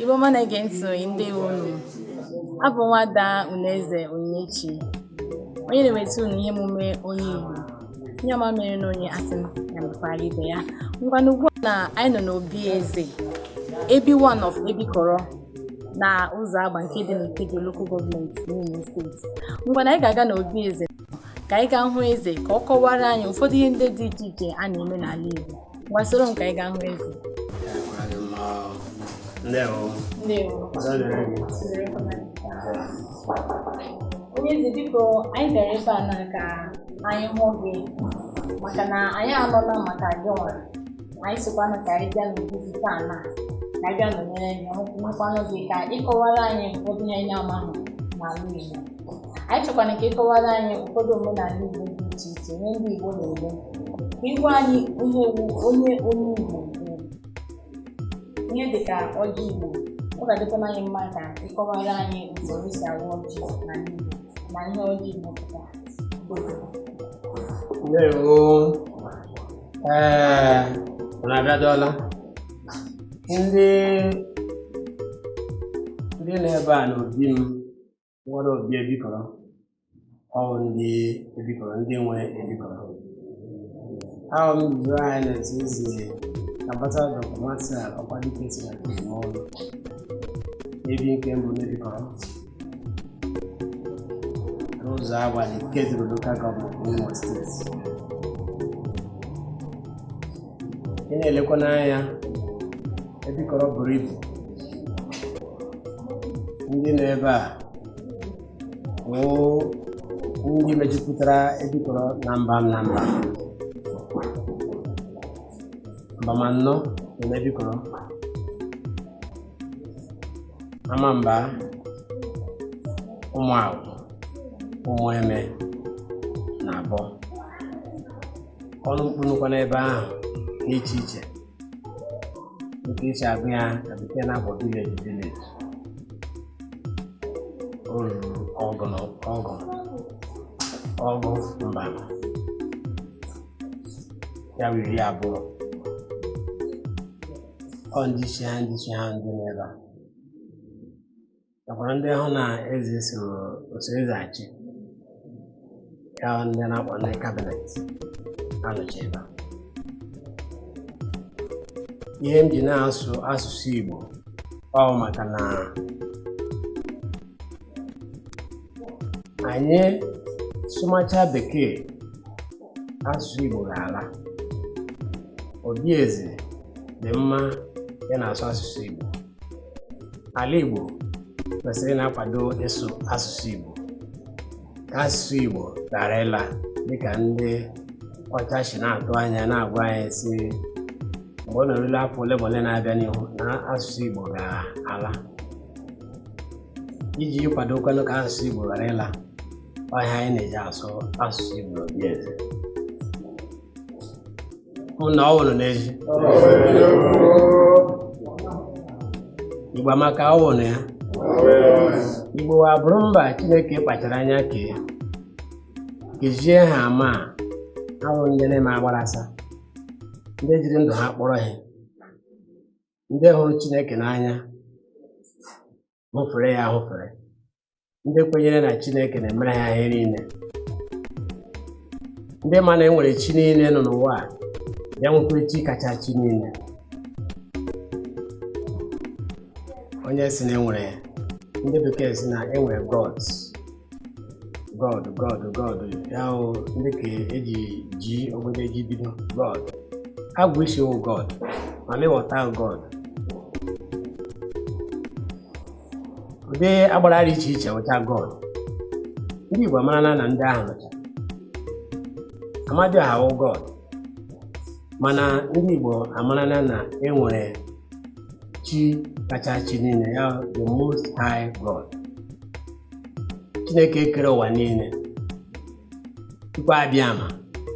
Igbo ọma na-ege ntị ndewo unu abụ nwada Unaeze Onyinyechi onye na-eweta unu ihe emume onye Igbo ihe ọma mere na onye asị m ya mekwara ibe ya ngwanụ ugbu a na anyị nọ n'obi eze Ebi one of Ebikọrọ na Ụzọagba nke dị n'Ikeduru Local Government n'Imo steeti ngwana anyị ga-aga n'obi eze ka anyị gaa hụ eze ka ọ kọwara anyị ụfọdụ ihe ndị dị iche iche a na-eme n'ala Igbo ngwa soro m ka anyị gaa hụ eze onye eze biko anyị bịara ebe a na ka anyị hụ gị maka na anyị anụla maka gị nwere anyị sịkwanụ ka anyị bịa n'obi gị taa na ka anyị bịa nọnyere gị hụkwanụ gị ka ịkọwara anyị ụfọdụ ihe anyị amaghị n'ala Igbo anyị chọkwara ka ịkọwara anyị ụfọdụ omenala Igbo dị iche iche ihe ndị Igbo na-eme ka ịgwa anyị ihe onye onye Igbo ihe dịka ọjị Igbo ọ ga-adịkwa anyị mma ka ịkọwara anyị usoro esi awa ọjị n'ala Igbo na ihe ọjị Igbo pụtara ndewo ee na-abịadọla ndị ndị nọ ebe a n'obi m nwere obi ebikọrọ ọwụ ndị ebikọrọ ndị nwe ebikọrọ awụ m His Royal Highness Eze nabata dọkta Martin ọkwadike si na ọrụ ebi nke mbụ n'ebikọrọ n'Ụzọagba dị n'Ikeduru lokal gọọmenti n'Imo steeti ị na-elekwa n'anya ebikọrọ buru ibu ndị nọ ebe a bụ ndị mejupụtara ebikọrọ na mba na mba mbam anọ dị na ebikọrọ Amamba Ụmụagwụ Ụmụeme na Abọ ọnụ mkpu nọkwa n'ebe ahụ dị iche iche nke esi agụ ya na bekee na-abụ vileji vileji o ruru ọgụ na ọgụ ọgụ mba ya bụ iri abụọ ọ ndị isi ha ndị isi ha ndị nọ ebe a nakwara ndị hụ na eze so eso eze achị ya ndị na-akpọ ndị kabinet ha nọchi ebe a. ihe m ji na-asụ asụsụ Igbo ọ maka na anyị sụmacha bekee asụsụ Igbo ga-ala obi eze dị mma ya na-asụ asụsụ Igbo ala Igbo kwesịrị na-akwado ịsụ asụsụ Igbo ka asụsụ Igbo ghara ịla dịka ndị ọcha si na-atụ anya na-agwa anyị sị mgbe ọ na-erula afọ ole ma ole na-abịa n'ihu na asụsụ Igbo ga-ala iji kwadokwanụ ka asụsụ Igbo ghara ịla ọ ihe anyị na-eji asụ asụsụ Igbo n'obi eze hụ na ọ wụrụ n'ezi Igbo amaka ọ wụrụ ya Igbo abụrụ mba Chineke kpachara anya kee kezie ha ama awụ ndị na-eme agbarasa ndị jiri ndụ ha kpọrọ ihe ndị hụrụ Chineke n'anya hụfere ya ahụfere ndị kwenyere na chineke na-emere ha ihe niile ndị ma na enwere chi niile nọ n'ụwa a ya nwekwa chi kacha chi niile onye sị na enwere ndị bekee sị na enwere gods god god god ya hụ ndị ka eji g ogbede ji bido god agwụ isi wụ god mami wọta god ụdị agbara dị iche iche wụcha god ndị igbo amarala na ndị ahụ nọcha amadịọha wụ god mana ndị igbo amarala na enwere chi kacha chi niile ya the most high god chineke kere ụwa niile chukwu abịama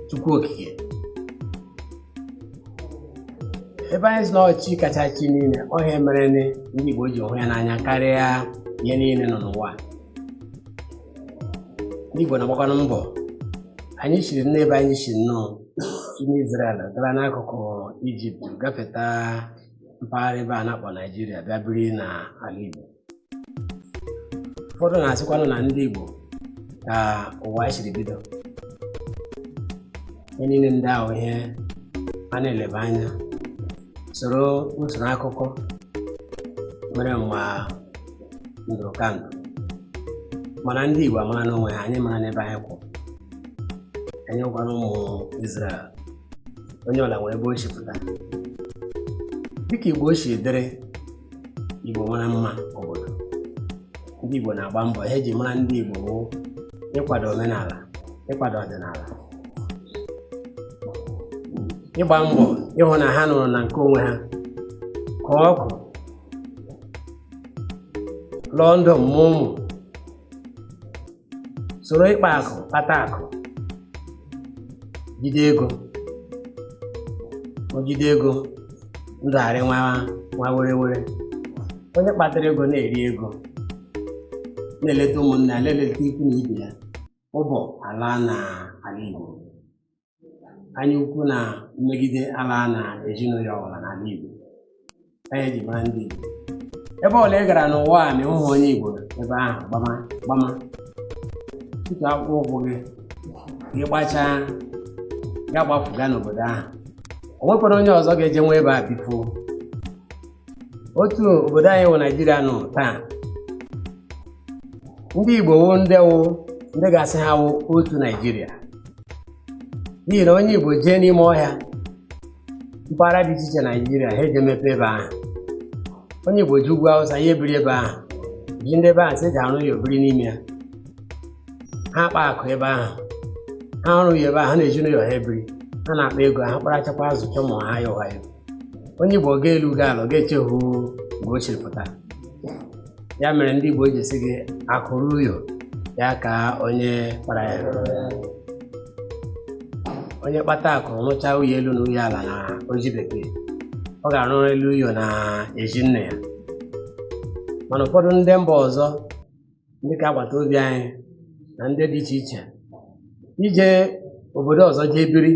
chukwu okike ebe anyị sị na chi kacha chi niile ọ ihe a mere na ndị igbo ji hụ ya n'anya karịa ihe niile nọ n'ụwa ndị igbo na-agbakwanụ mbọ anyị siri n'ebe anyị si nnọọ si n'Izrel gara n'akụkụ ijipt gafeta mpaghara ebe a na-akpọ naijiria bịa biri n'ala igbo ụfọdụ na-asịkwanụ na ndị Igbo ka ụwa siri bido ihe niile ndị ahụ ihe a na-eleba anya soro usoro akụkọ mere mgbe ndụ ka ndụ mana ndị Igbo amara n'onwe ha anyị mara n'ebe anyị kwụ anyị wụkwanụ ụmụ Izrel onye ọwụla nwere ebe o si pụta dịka ebe o si dịrị Igbo mara mma obodo ndị Igbo na-agba mbọ ihe eji mara ndị Igbo bụ ịkwado omenala ịkwado ọdịnala ịgba mbọ ịhụ na ha nọrọ na nke onwe ha kpaa akụ lụọ ndom mụọ ụmụ soro ịkpa akụ kpata akụ jide ego o jide ego ndụ arịwa were were onye kpatara ego na-eri ego na-eleta ụmụnna na-eleta ikwu na ibe ya ụbọ alaa n'ala Igbo anya ukwu na mmegide alaa na ezinụlọ ọbụla n'ala Igbo anyị ji mara ndị Igbo ebe ọla ị gara n'ụwa a na ị hụhụ onye Igbo ebe ahụ gbama gbama tutu akpụkpọ ụkwụ gị gị gbachaa ya gbapụga n'obodo ahụ o nwekwara onye ọzọ ga-ejenwu ebe a bifuo otu obodo anyị wụ naijiria nọ taa ndị igbo wụ ndị wụ ndị ga-asị ha wụ otu naijiria n'ihi na onye igbo jee n'ime ọhịa mpaghara dị iche iche naijiria ha eje mepe ebe ahụ onye igbo jee ugwu awụsa ya ebiri ebe ahụ ji ndị ebe ahụ si eji arụ uyo biri n'ime ya ha akpa akụ ebe ahụ ha arụ uyo ebe ahụ ha na ezinụlọ ha ebiri ha na-akpa ego ha kparachakwa zụchaa ụmụ ha ya ụgha ya onye Igbo gaa elu gaa ala ga-echehu nga o siri pụta ya mere ndị Igbo ji sị gị akụ ruo uyo ya kaa onye kpara ya onye kpata akụ rụchaa uyo elu na uyo ala na oji bekee ọ ga-arụ elu uyo na ezi nne ya mana ụfọdụ ndị mba ọzọ ndị ka agbata obi anyị na ndị dị iche iche ije obodo ọzọ jee biri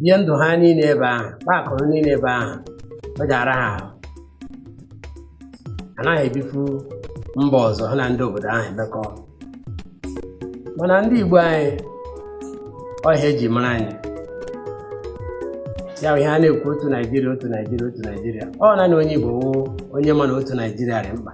bie ndụ ha niile ebe ahụ kpaa akụ ha niile ebe ahụ ọ ji ara ha ahụ anaghị ebifu mba ọzọ ha na ndị obodo ahụ emekọ mana ndị Igbo anyị ọ ya e ji mara anyị ya wụ ihe a na-ekwu otu naijiria otu naijiria otu naijiria ọ naanị onye igbo wụ onye ma na otu naijiria dị mkpa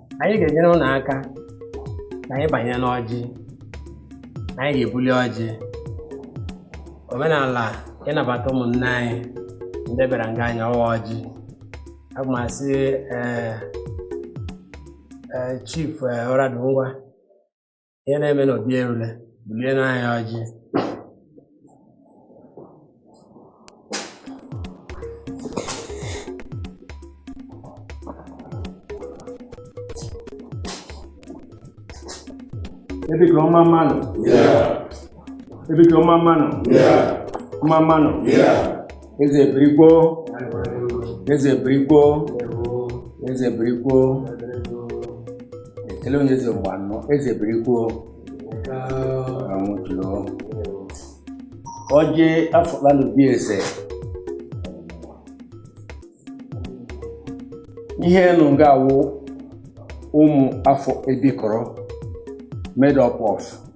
anyị ga-enyere ụnụ aka na anyị banye n'ọjị na anyị ga-ebuli ọjị omenala ịnabata ụmụnne anyị ndị bịara nga anyị ịwa ọjị aga m asị ee ee chief ee, ọradụ ngwa ihe na-eme n'obi erule bulie n'anya ọjị Ebe ka mma mma nụ. Ebe ka mma mma nụ. Mma mma nụ. eze birikwo eze birikwo eze birikwo ekele onye eze mgbe anọ eze birikwo anwụchula ọjị afọla n'obi eze ihe nọ nga a wụ ụmụ afọ ebikọrọ made up of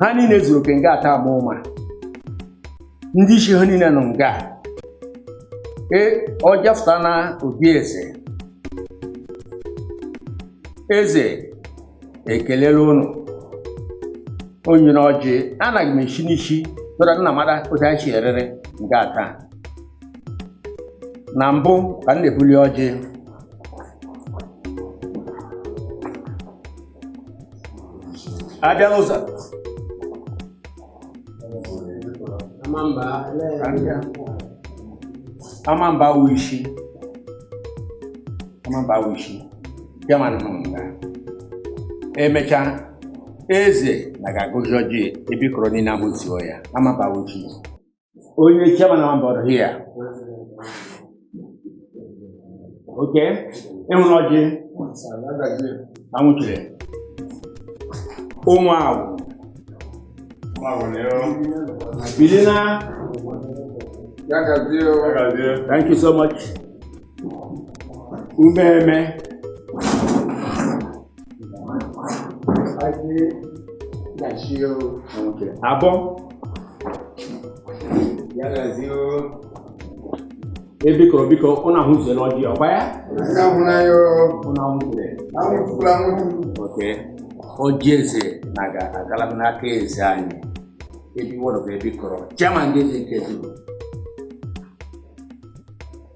ha niile zuru oke nga a taa agba ụma ndị isi ha niile nọ nga e ọjị afụta na obi eze eze ekelela ụnụ o nyere ọjị anaghị m esi n'isi tụra nna mara otu anyị si erere nga a taa na mbụ ka m na-ebuli ọjị abịa n'ụzọ amamba wụ isi amamba wụ isi chairman nọ nga emechaa eze na ga-agọzi ọjị ebikọrọ niile ahụzuo ya amamba wụ isi onye chairman amamba here okay ị hụrụ ọjị anwụchula ụmụ ahụ bili na thank you so much ụmụeme abọ ebikọrọ biko ụnụ ahụzuola ọjị ọkwa ya ụnụ ahụzuo ọjị eze na-aga agala n'aka eze anyị ebi one of ebikọrọ chairman ndị eze n'ikeduru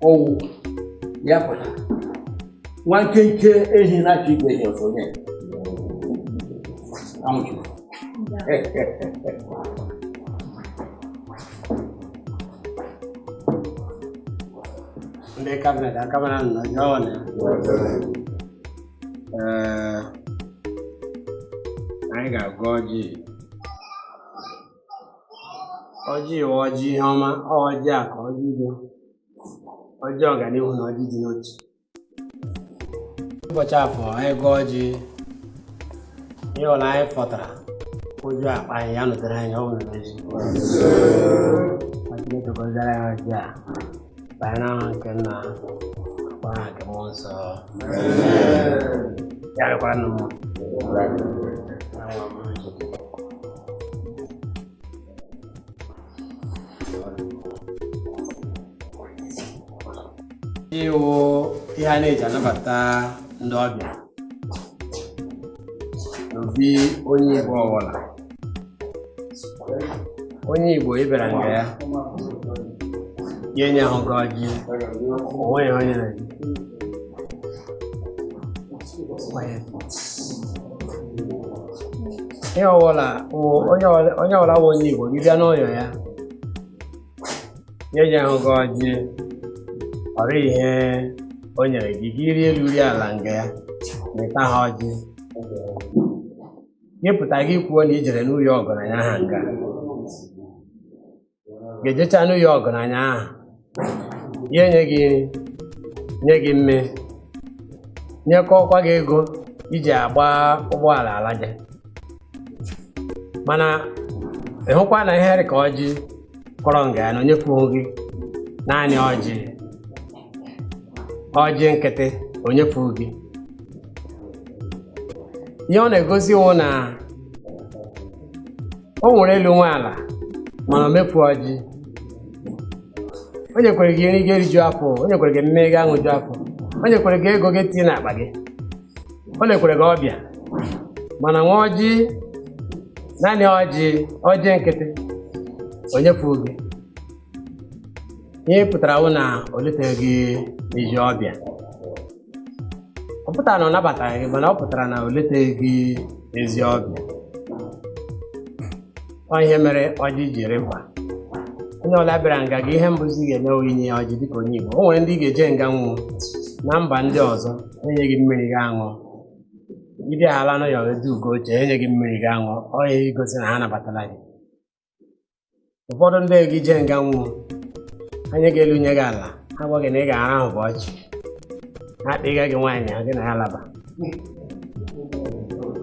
ọwụ ya kwara nwa nkenke ehi na-achọ igwe ehi ọzọ nye anwụchula ndị kabinet akabara nọ jọọ na ee anyị ga-agọ ọjị ọjị a wụ ọjị ihe ọma ọ ọjị a ka ọjị ndụ ọjị ọganihu na ọjị ịdị n'otu ụbọchị afọ anyị gọọ ọjị ihe ọla anyị fọtara ụjọ akpa anyị ya nụtara anyị ọ bụrụ n'ezi Chineke gọziere anyị ọjị a banye n'aha nke nna kwa aha nke mmụọ nsọ ya rịkwara nụ mma ọjị wụ ihe a na-eji anabata ndị ọbịa n'obi onye Igbo ọbụla onye Igbo ị bịara nga ya ya enyehụ gị ọjị onweghị onye na ihe ọbụla onye ọbụla wụ onye Igbo gị bịa n'ụyọ ya ya enyehụ gị ọjị ọ rịhụ ihe o nyere gị gị rie elu rie ala nga ya ma ị taha ọjị gị pụta gị kwuo na i jere n'ụyọ ọgaranya aha nga ga-ejecha n'ụyọ ọgaranya ahụ ya enye gị nri nye gị mme nyekọkwa gị ego iji agba ụgbọala alaje mana ịhụkwa na ihe rị ka ọjị kọrọ nga ya na o nyekwuhụ gị naanị ọjị ọjị nkịtị o nyefuhụ gị ihe ọ na-egosi wụ na o nwere elu nwe ala mana o mefu ọjị o nyekwere gị nri gị eriju afọ o nyekwere gị mme gị aṅụju afọ o nyekwere gị ego gị tinye n'akpa gị o lekwere gị ọbịa mana nwa ọjị naanị ọjị ọjị nkịtị o nyefuhụ gị ihe pụtara wụ na o leteghị gị ezi ọbịa ọ pụtara na ọ nabataghị gị mana ọ pụtara na o leteghị gị ezi ọbịa ọ ihe mere ọjị ji rị mkpa onye ọla bịara nga gị ihe mbụzi ga-eme wụ inye ya ọjị dịka onye Igbo o nwere ndị ị ga-eje nga nwụ na mba ndị ọzọ enye gị mmiri gị aṅụ ị bịahala n'ụyọ eweduo gị oche enye gị mmiri gị aṅụ ọ ya igosi na ha nabatala gị ụfọdụ ndị gị jee nga nwụ enye gị elu nye gị ala ha gwa gị na ị ga-arahụ bọọ chi ha kpọga gị nwaanyị ahụ gị na ya laba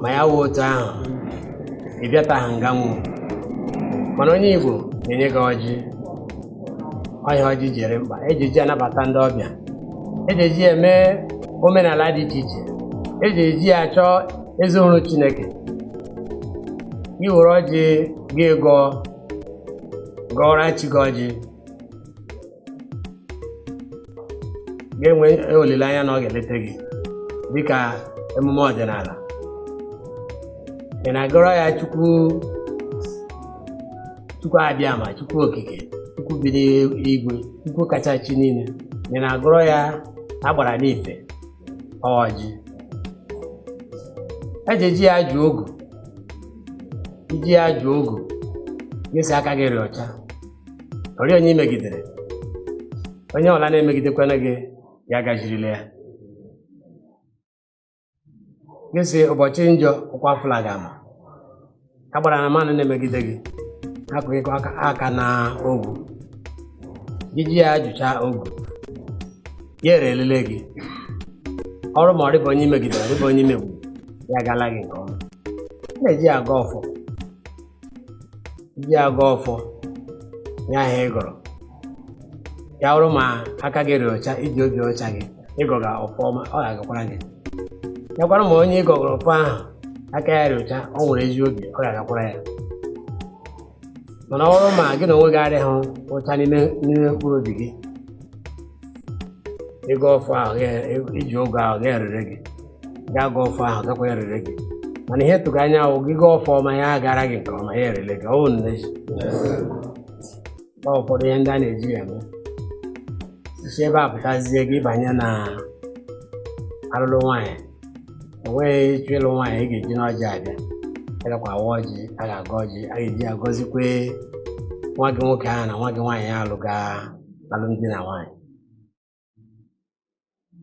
ma ya wụhụ otu ahụ ị bịataghị nga nwụ mana onye Igbo na-enye gị ọjị ọ ihe ọjị ji rị mkpa eji eji anabata ndị ọbịa eji eji eme omenala dị iche iche eji eji ya chọọ ezi ọrụ chineke gị were ọjị gị gọọ gọọra chi gị ọjị ga-enwe olileanya na ọ ga-elete gị dịka emume ọdịnala ị na-agọrọ ya chukwu Chukwu Abịama Chukwu okike Chukwu bi n'igwe Chukwu kacha chi niile ị na-agọrọ ya agbara n'ife ọjị e ji eji ya jụ ogu i ji ya jụ ogu gị sị aka gị rị ọcha ọ rịghị onye i megidere onye ọbụla na-emegidekwana gị ya agajirila ya gị sị ụbọchị njọ ụkwa fụla gị ama agbara na mmadụ na-emegide gị akụghịkwa aka na ogu gị ji ya ajụcha ogu ya erelele gị ọ bụrụ ma ọ dịbeghị onye i megidere ọ dịbeghị onye i megbu ya agala gị nke ọma na-eji ya agọ ọfọ i ji agọ ọfọ ihe ahụ ị gọrọ ya bụrụ ma aka gị rị ọcha i ji obi ọcha gị ị gọga ọfọ ọma ọ ga-agakwara gị ya kwara ma onye ị gọgara ọfọ ahụ aka ya rị ọcha ọ nwere ezi obi ọ ga-agakwara ya mana ọ bụrụ ma gị n'onwe gị adịghị ọcha n'ime mkpụrụ obi gị ịgọ ọfọ ahụ iji ogu ahụ ga-erere gị gaa gọọ ọfọ ahụ gakwa erere gị mana ihe tụga anya wụ gị gọọ ọfọ ọma ya agara gị nke ọma ya erele gị ọ wụ nne ji ọ ụfọdụ ihe ndị a na-eji ya eme i si ebe a pụtazie gị banye na alụlụ nwaanyị enweghị ị chọ ịlụ nwaanyị ị ga-eji n'ọjị abịa a gakwa awa ọjị a ga-agọ ọjị a ga-eji agọzikwe nwa gị nwoke ahụ na nwa gị nwaanyị ya alụga alụmdi na nwaanyị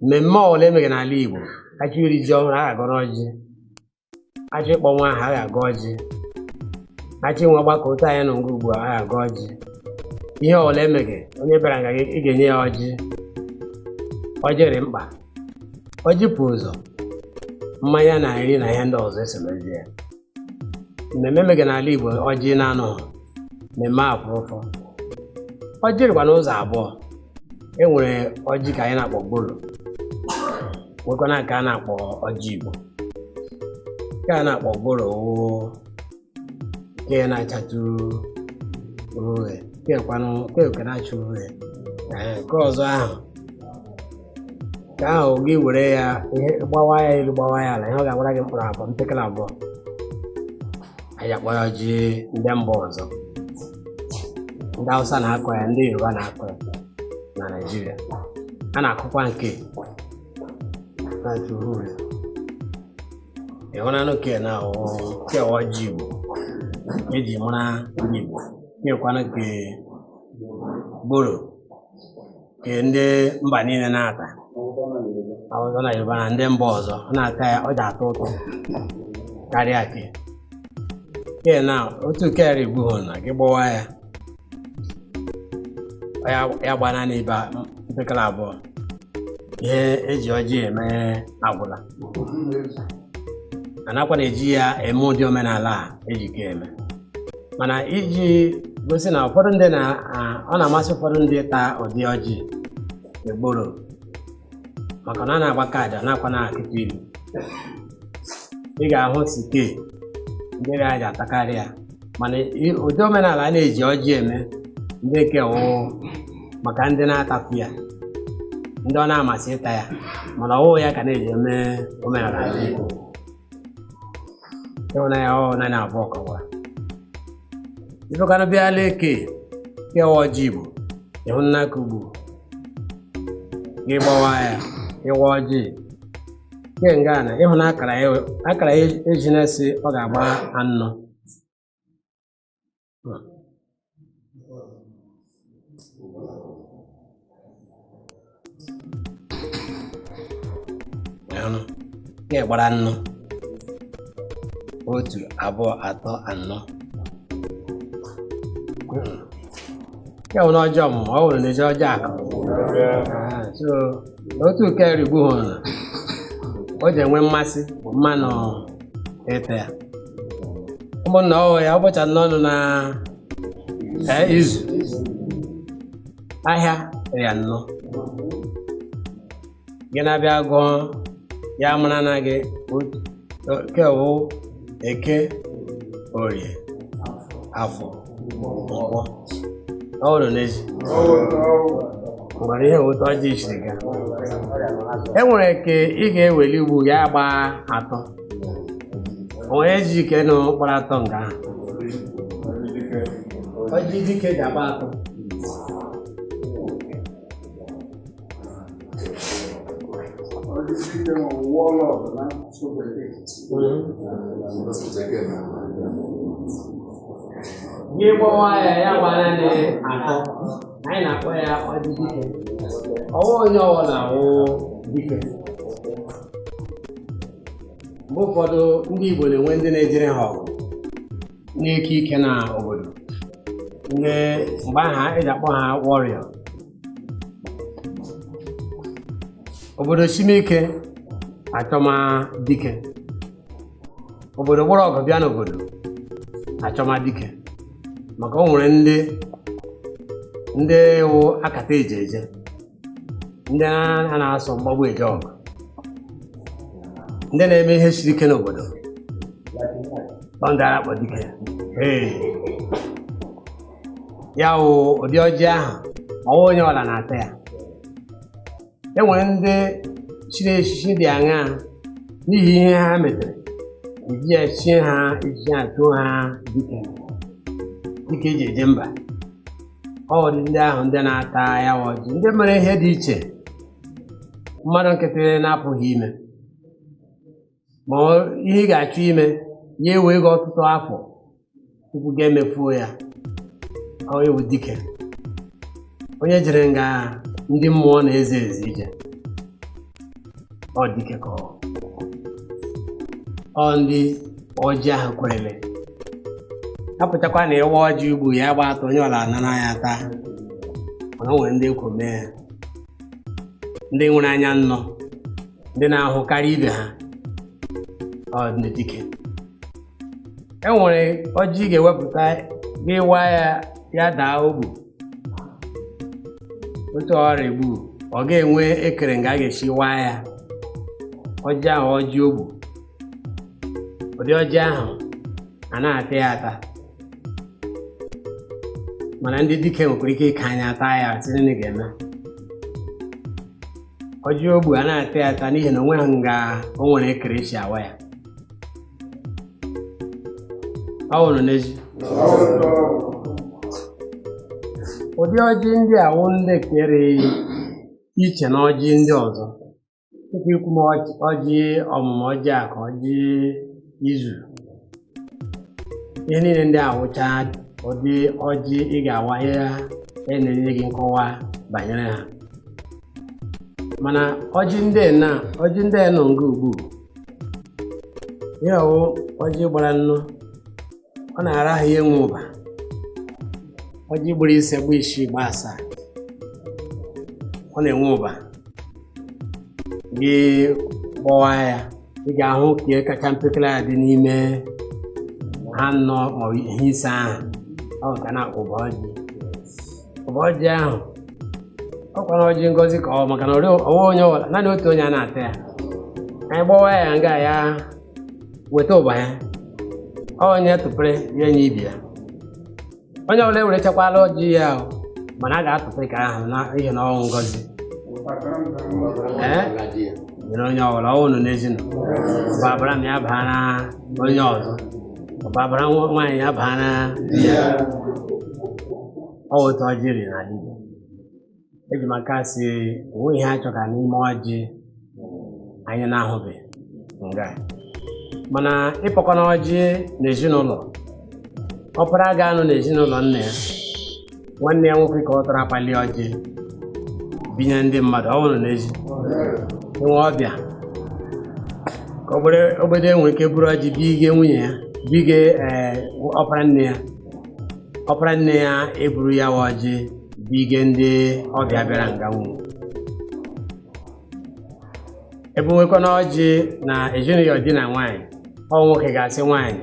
mmemme ọbụla e mege n'ala Igbo a chọ iri ji ọhụrụ a ga-agọrọ ọjị a chọ ịkpọ nwa aha a ga-agọ ọjị a chọ inwe ọgbakọ otu anyị nọ nga ugbu a a ga-agọ ọjị ihe ọbụla e mege onye bịara nga gị ị ga-enye ya ọjị ọjị dị mkpa ọjị pụ ụzọ mmanya na nri na ihe ndị ọzọ esomezi ya mmemme e mege n'ala Igbo ọjị na-anọ mmemme afụrụfụ ọjị dịkwa n'ụzọ abụọ e nwere ọjị ke anyị na-akpọ gworo nwekwana nke a na-akpọ ọjị Igbo nke a na-akpọ gworo wụ nke na-achatụ uhie kekwanụ keke na-acha uhie Ee, nke ọzọ ahụ ke ahụ gị were ya ihe gbawa ya elu gbawa ya ala ihe ọ ga-awara gị mkpụrụ abụọ mpekele abụọ anyị akpọ ya ọjị ndị mba ọzọ ndị Hausa na-akọ ya ndị Yoruba na-akọ ya na Naịjirịa a na-akọkwa nke na nke uhuru ị hụnanụ ke na ke wụ ọjị Igbo e ji mara ndị Igbo kekwana nke gworo nke ndị mba niile na-ata awụsa na yoruba na ndị mba ọzọ ọ na-ata ya ọ ji atọ ụtọ karịa ke ke na otu kere ugbu hụ na gị gbawa ya ọ ya- ya gba naanị ibe mpekele abụọ ihe eji ọjị eme agwụla a nakwa na-eji ya eme ụdị omenala a eji ke eme mana iji gosi na ụfọdụ ndị na a- ọ na-amasị ụfọdụ ndị ịta ụdị ọjị egboro maka na a na-agbakadị a nakwa na-akụtụ ilu ị ga-ahụ sị ke ndị ga-aja atakarị ya mana i- ụdị omenala a na-eji ọjị eme ndị nke wụ maka ndị na-atapụ ya ndị ọ na-amasị ịta ya mana ọ wụ ya ka na-eji eme omenala ndị Igbo ị hụna ya ọ wụ naanị abụọ ka ọ wa ifekana bịa leke ke wụ ọjị Igbo ị hụna ka ugbu gị gbawa ya ịwa ọjị nke nga na ị hụ na akara ya akara ya eji na-esi ọ ga-agba anọ ọ wụ nke gbara anọ otu abụọ atọ anọ ya wụrụ ọjị ọmụmụ ọ wụrụ n'ezi ọjị akụ Ah, so otu kere ugbu hụrụ na o ji enwe mmasị mmadụ ịta ya ụmụnna ọ wụ ya ụbọchị anọ nọ na ee, izu ahịa rị anọ gị na-abịa gụọ ya mara na gị nke wụ eke orie afọ nkwọ ọ bụrụ n'ezi mara ihe otu ọjị siri gaa e nwere ke ị ga-eweli ugbu ya gba atọ ọ wụ ọjị dike na ọ gbara atọ nga ahụ ọjị dike ji agba atọ gị gbawa ya ya gba naanị atọ anyị na-akpọ ya ọjị dike ọ wụ onye ọwụla wụ dike mgbe ụfọdụ ndị Igbo na-enwe ndị na-ejere ha ọgụ n'ike ike na obodo mgbe ahụ e ji akpọ ha warrior obodo sime ike achọma dike obodo gbara ọgụ bịa n'obodo achọma dike maka o nwere ndị ndị wụ akata eje eje ndị a na-asọ mgbagbu eje ọgụ ndị na-eme ihe siri ike n'obodo ọ ndị a ra-akpọ dike ee ya wụ ụdị ọjị ahụ ọwa onye ọla na-ata ya e nwere ndị chiri echichi dị aṅaa n'ihi ihe ha metere eji ya chie ha eji ya tụọ ha dike dike eji eje mba ọ ụdị ndị ahụ ndị na-ata ya wụ ọjị ndị mere ihe dị iche mmadụ nkịtị na-apụghị ime ma ihe ị ga-achọ ime ya ewe gị ọtụtụ afọ tupu gị emefuo ya ọ wụ dike onye jere nga ndị mmụọ na-eze eze ije ọ dike ka ọ ọ ndị ọjị ahụ kwerele apụtakwa na ịwa ọjị ugbu ya gba atọ onye ọla anara ya taa mana o nwere ndị ekwo mee ya ndị nwere anya nnọ ndị na-ahụ karịa ibe ha ọ ndị dike e nwere ọjị ị ga-ewepụta gị wa ya ya daa ogbu otu ọrịa ogbu ọ ga-enwe ekere nga a ga-esi waa ya ọjị ahụ ọjị ogbu ụdị ọjị ahụ a na-ata ya ata mana ndị dike nwekwara ike ịka anya taa ya sị nịnị ga-eme ọjị ogbu a na-ata ya ata n'ihi na onweghị nga o nwere ekere esi awa ya ọ wụrụ n'ezi ụdị ọjị ndị a wụ ndị kere iche na ọjị ndị ọzọ tupu i kwume ọjị ọmụmụ ọjị aka ọjị izu ihe niile ndị a wụcha ụdị ọjị ị ga-awa ha a na-enye gị nkọwa banyere ha mana ọjị ndị na ọjị ndị nọ nga ugbu ihe wụ ọjị gbara anọ ọ na-ara ahụ ya enwe ụba ọjị gbara ise gba isii gba asaa ọ na-enwe ụba gị gbọwa ya ị ga-ahụ nke kacha mpekere ya dị n'ime ha anọ maọbụ ha ise ahụ ọ ka a na-akpọ ụba ọjị ụba ọjị ahụ ọ kwara ọjị ngozi ka ọ maka na ọwa onye ọbụla naanị otu onye a na-ata ya anyị gbọwa ya nga ya weta ụba ya onye tụpere ya enye ibe ya onye ọbụla ewerechakwala ọjị ya ahụ mana a ga-atụpere ka ahụ n'ihi na ọ wụ ngozi e nyere onye ọbụla ọ wụ nọ n'ezinụlọ ọ babara m ya baara onye ọzọ ọ babara nwa- nwaanyị ya baara di ya ọ wụ otu ọjị riri n'ala Igbo eji m aka sị o nwe ihe a chọka n'ime ọjị anyị na-ahụbe nga mana ịkpọkọ na ọjị n'ezinụlọ ọpara ga-anọ n'ezinụlọ nna ya nwanne ya nwoke ka ọ tọrọ apali ọjị binye ndị mmadụ ọ bụrụ n'ezi nwe ọbịa ka ogbere- ogbede nwere ike buru ọjị bige nwunye ya bige ee, ọpara nne ya ọpara nne ya eburu ya wụ ọjị bige ndị ọbịa bịara nga ahụ ebuwekwana ọjị na ezinụlọ di na nwaanyị ọ nwoke ga-asị nwaanyị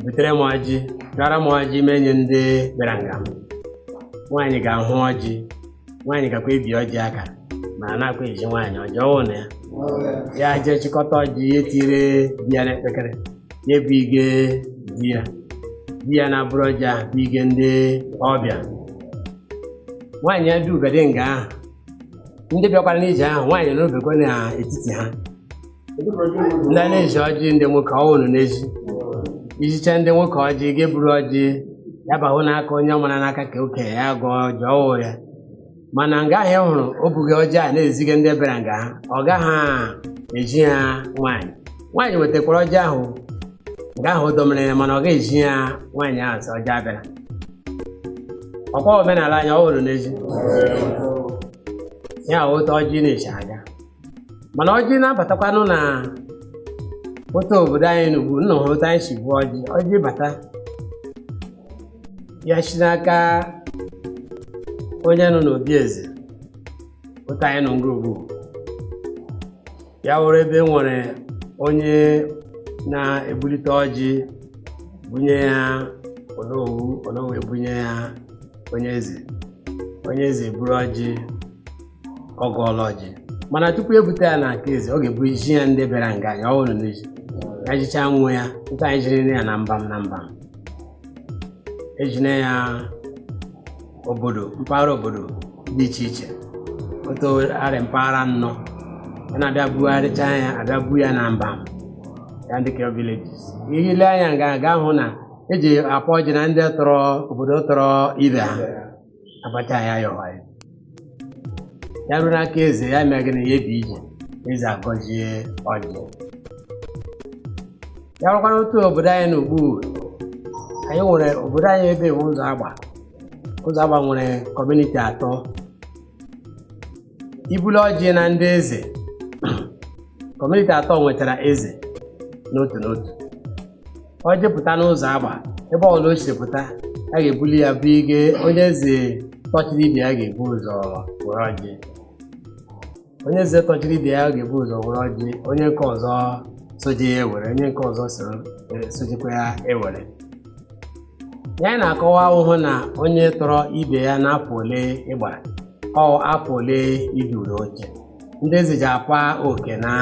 butere m ọjị gara m ọjị m nye ndị bịara nga m nwaanyị ga-ahụ ọjị nwaanyị gakwa ebi ọjị aka ma a na-akwa ezi nwaanyị ọjị ọ wụ na ya ya jee chịkọta ọjị ya etire di ya n'ekpekere ya ebige di ya di ya na-eburu ọjị ahụ bige ndị ọbịa nwaanyị ya dubedị nga ahụ ndị bịakwara n'ije ahụ nwaanyị nọbekwa n'etiti ha ndị a na-ezi ọjị ndị nwoke ọ wụrụ na e zi ezicha ndị nwoke ọjị ga-eburu ọjị ya bahụ n'aka onye ọ mara na ọ kaka okenye ya gọọ ọjị ọ wụ ya mana nga anyị hụrụ o buga ọjị a na-eziga ndị bịara nga ha ọ gaghị ezi ha nwaanyị nwaanyị wetakwara ọjị ahụ nga ahụ dọmere ya mana ọ gaghị ezi ya nwaanyị ahụ sị ọjị abịara ọ kwa omenala anyị ọ wụrụ n'ezi ya wụ otu ọjị na-esi aga mana ọjị na-abatakwanụ na otu obodo anyị n'ugwu nna ha otu anyị si ebu ọjị ọjị bata ya si n'aka onye nọ n'obi eze otu anyị nọ nga ugbu a ya wụrụ ebe e nwere onye na-ebulite ọjị bunye ya onowu onowu ebunye ya onye eze onye eze eburu ọjị ọ gọọla ọjị mana tupu ebute ya n'aka eze ọ ga-ebu zi ya ndị bịara nga ya ọ wụrụ na e zi ya zichaa nwa ya nke anyị ziri ya na mbam na mbam ezina ya obodo mpaghara obodo dị iche iche otu a rị mpaghara anọ a na-abịa bugharịcha ya abịa bu ya na mbam ya ndị ka villages ihe ile anya nga ga-ahụ na eji akwa ọjị na ndị tọrọ obodo tọrọ ibe ha abacha ya ya ọha ya ya ruo n'aka eze ya mee gịnị ya ebi ije eze agọzie ọjị ya rukwanụ otu obodo anyị nọ ugbu anyị nwere obodo anyị ebe wụ ụzọagba ụzọagba nwere kọmuniti atọ ibuli ọjị na ndị eze kọmuniti atọ nwetara eze n'otu n'otu ọjị pụta n'ụzọagba ebe ọbụla o si pụta a ga-ebuli ya bụ ige onye eze tọchiri ibe ya ga-ebu ụzọ were ọjị onye eze tọchiri ibe ya ga-ebu ụzọ were ọjị onye nke ọzọ soje ya ewere onye nke ọzọ sojekwa ya ewere ya anyị na-akọwa ahụ wụ na onye tọrọ ibe ya n'afọ ole ị gbara ọ afọ ole ị duru oche ndị eze ji akwa oke na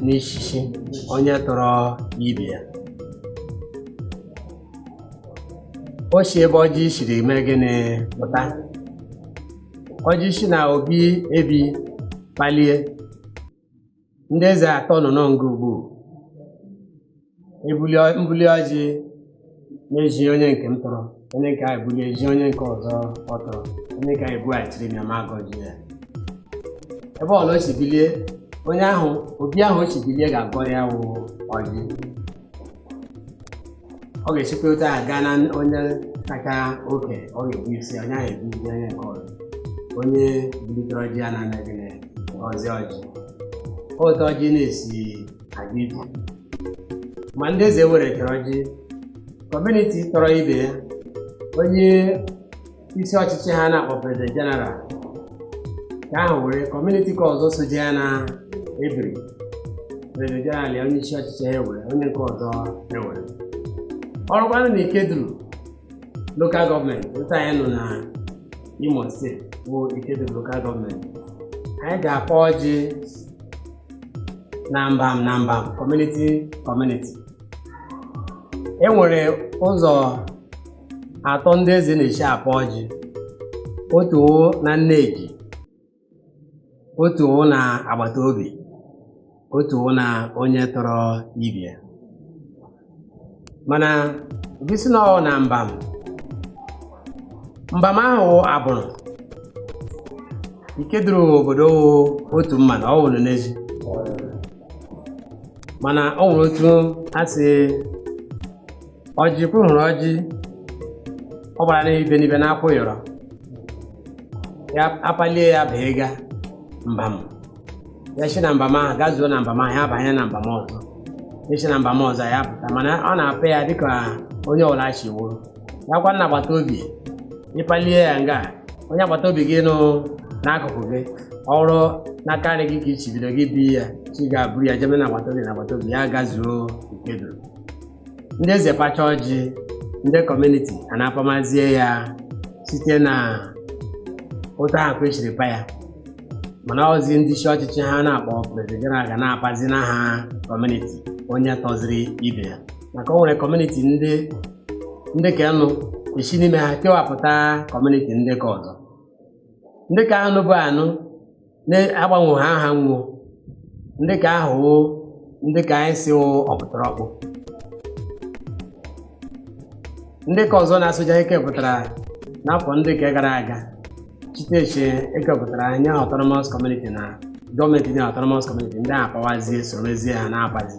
n'ishishi onye tọrọ ibe ya o si ebe ọjị siri mee gịnị pụta ọjị si na obi ebi kpalie ndị eze atọ nọ nga ugbu mbuli ọjị na-ezi onye nke m tọrọ onye nke a ebuli ezi onye nke ọzọ ọ tọrọ onye nke a ebughachiri na ma agọji ya ebe ọla o si bilie onye ahụ obi ahụ o si bilie ga-agọrọ ya wụ ọjị ọ ga-esikwa otu a gaa na onye kacha oke ọ ga-ebu isi onye ahụ ebu isi onye nke ọzọ onye bulitere ọjị ya na anaghị na ọzi ọjị otu ọjị na-esi aga ije ma ndị eze weretara ọjị kọmuniti tọrọ ibe ya onye isi ọchịchị ha na-akpọ prezident jeneral ka ahụ were kọmuniti ka ọzọ soje ya na ebiri prezident jeneral ya onye isi ọchịchị ha ewere onye nke ọzọ ewere o rukwanụ na ikeduru lokal gọọmenti otu anyị nọ na imo steeti bụ ikeduru lokal gọọmenti anyị ga-akpọ ọjị na mbam na mbam kọmuniti kọmuniti e nwere ụzọ atọ ndị eze na-esi akpọ ọjị otu wụ na nneji otu wụ na agbata obi otu wụ na onye tọrọ ibe ya mana gị si na ọ na mbam mbam ahụ abụrụ ikeduru obodo wụ otu mana ọ wụrụ n'ezi mana ọ nwere otu e si ọjị kwu hụrụ ọjị ọ gbara n'ibe n'ibe na-akwụ yọrọ ya apalie ya baa ịga mbam ya si na mbam ahụ gazuo na mbam ahụ ya abanye na mbam ọzọ si na mbam ọzọ ya pụta mana a na-apa ya dịka onye ọbụla si wụrụ ya kwa na agbata obi ị palie ya nga onye agbata obi gị nọ n'akụkụ gị ọ wụrụ n'aka nri gị ka i si bido gị bịa ị ga-eburu ya jebe na agbata obi na agbata obi ya gazuo Ikeduru ndị eze pacha ọjị ndị kọmuniti a na-apamazie ya site na otu ahụ kwa e siri pa ya mana ọzi ndị isi ọchịchị ha na-akpọ prezident jeneral ga na-apazi n'aha kọmuniti onye tọziri ibe ya maka o nwere kọmuniti ndị ndị ka nọ e si n'ime ha kewapụta kọmuniti ndị ka ọzọ ndị ka ahụ nọbu anọ na-agbanwe ha aha nwuo ndị ka ahụ wụ ndị ka anyị sị wụ ọkpụtọrọkpụ ndị ka ọzọ na-asụja e kepụtara n'afọ ndị ka gara aga chiteche e kepụtara nye ha autonomous community na gọọmenti nye autonomous community ndị a apawazie sorozie ha na-apazi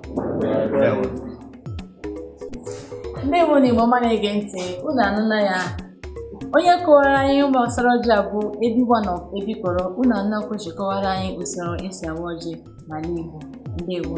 ndị Igbo na Igbo ọma na-ege ntị unu anụna ya onye kọwara anyị gbasara ọjị a bụ Ebi One of Ebikoro unu anụnakwa o si kọwara anyị usoro esi awa ọjị n'ala Igbo ndewo